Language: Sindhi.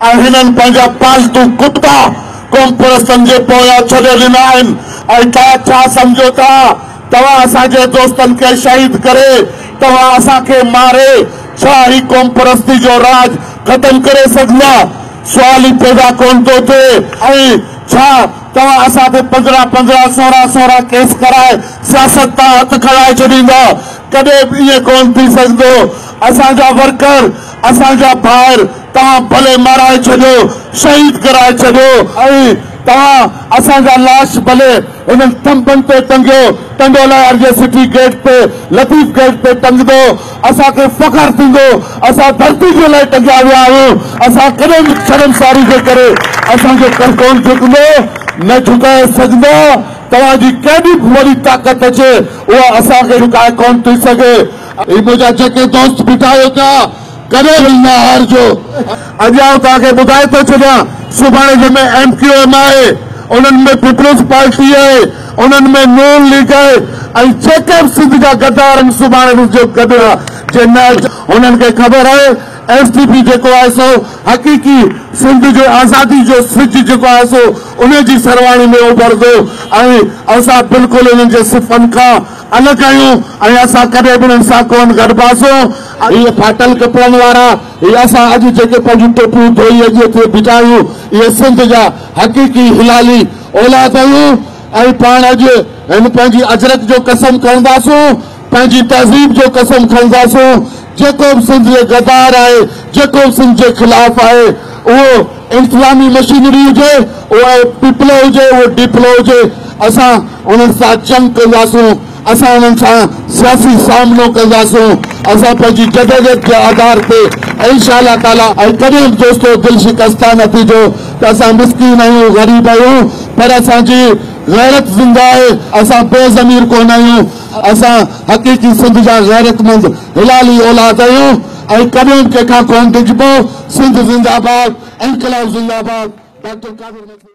۽ هنن پنهنجا پالتو ڪتا قومپرستن جي پويان ڇڏي ڏنا آهن ۽ توهان ڇا سمجهو ٿا توهان اسان جي دوستن کي شهيد ڪري توهان اسان کي ماري ڇا هي قومپرستي جو راڄ ختم ڪري سگهندا سوال ئي پيدا ڪونه ٿو ٿئي ۽ ڇا توهان اسان تي پندرهن پندرهن سورهن سورهن ڪيس ڪرائي سياست تان هٿ کڻائي ڇڏيندا ڪڏهن به ائين ڪونه ٿي سگهندو اسان جا ورڪر اسان جا ڀائر توهان ڀلي مارائي ڇڏيو، شهيد ڪرائي ڇڏيو ۽ توهان اسان جا لاش ڀلي انهن ٿنڀن تي ٽنگيو، ٽنڊو لهار جي سٽي گيٽ تي، لطيف گيٽ تي ٽنگندو، اسان کي فخر ٿيندو، اسان ڌرتي جي لاء ٽنگيا ويا آهيون، اسان ڪڏهن به شرمساري جي ڪري اسان جو ڪنڌ ڪونه جهڪندو، نه جهڪائي سگهندا، توهان جي ڪيڏي به وڏي طاقت اچي اها اسان کي جهڪائي ڪونه ٿي سگهي. هي منهنجا جيڪي دوست بيٺا آهيو پيا ڪڏهن به نه هارجو. اڄ آئون توهان کي ٻڌائي ٿو ڇڏيان سڀاڻي جنهن ۾ ايم ڪيو ايم آهي انهن ۾ پيپلز پارٽي آهي انهن ۾ نون ليگ آهي ۽ جيڪي به سنڌ جا غدار آهن سڀاڻي به جو گڏ جي نه اچن انهن کي خبر آهي ايس ٽي پي جيڪو آهي سو حقيقي سنڌ جي آزادي جو سج جيڪو آهي سو انهي جي سرواڻي ۾ اڀرندو ۽ اسان بلڪل انهن جي صفن کان ان ڪيون ۽ اسان ڪڏهن به انهن سان ڪونه گڏباسون. هي ڦاٽل ڪپڙن وارا، هي اسان اڄ جيڪي پنهنجون ٽوپيون ڌوئي اڄ اتي بيٺا آهيون، اهي سنڌ جا حقيقي هلالي اولاد آهيون ۽ پاڻ اڄ هن پنهنجي اجرڪ جو قسم کڻنداسون، پنهنجي تهذيب جو قسم کڻنداسون، جيڪو به سنڌ جي غدار آهي، جيڪو به سنڌ جي خلاف آهي، اهو. انساني مشينري هجي اهو پيپلو هجي اهو ڊيپلو هجي اسان انهن سان جنگ ڪنداسون اسان انهن سان سياسي سامنو ڪنداسون اسان پنهنجي جدوجهد جي آڌار تي انشاء الله تعالي ۽ ڪڏهن به دوستو دل شڪسته نه ٿيجو ته اسان مسڪين آهيون غريب آهيون پر اسان جي غيرت زنده آهي اسان بي ضمير ڪونه آهيون اسان حقيقي سنڌ جا غيرتمند هلالي اولاد آهيون ۽ ڪڏهن ڪيڪا ڪونه ڊڄبو. سنڌ زنداباد انقلاب زنداباد ڊاڪٽر قادر ملڪي.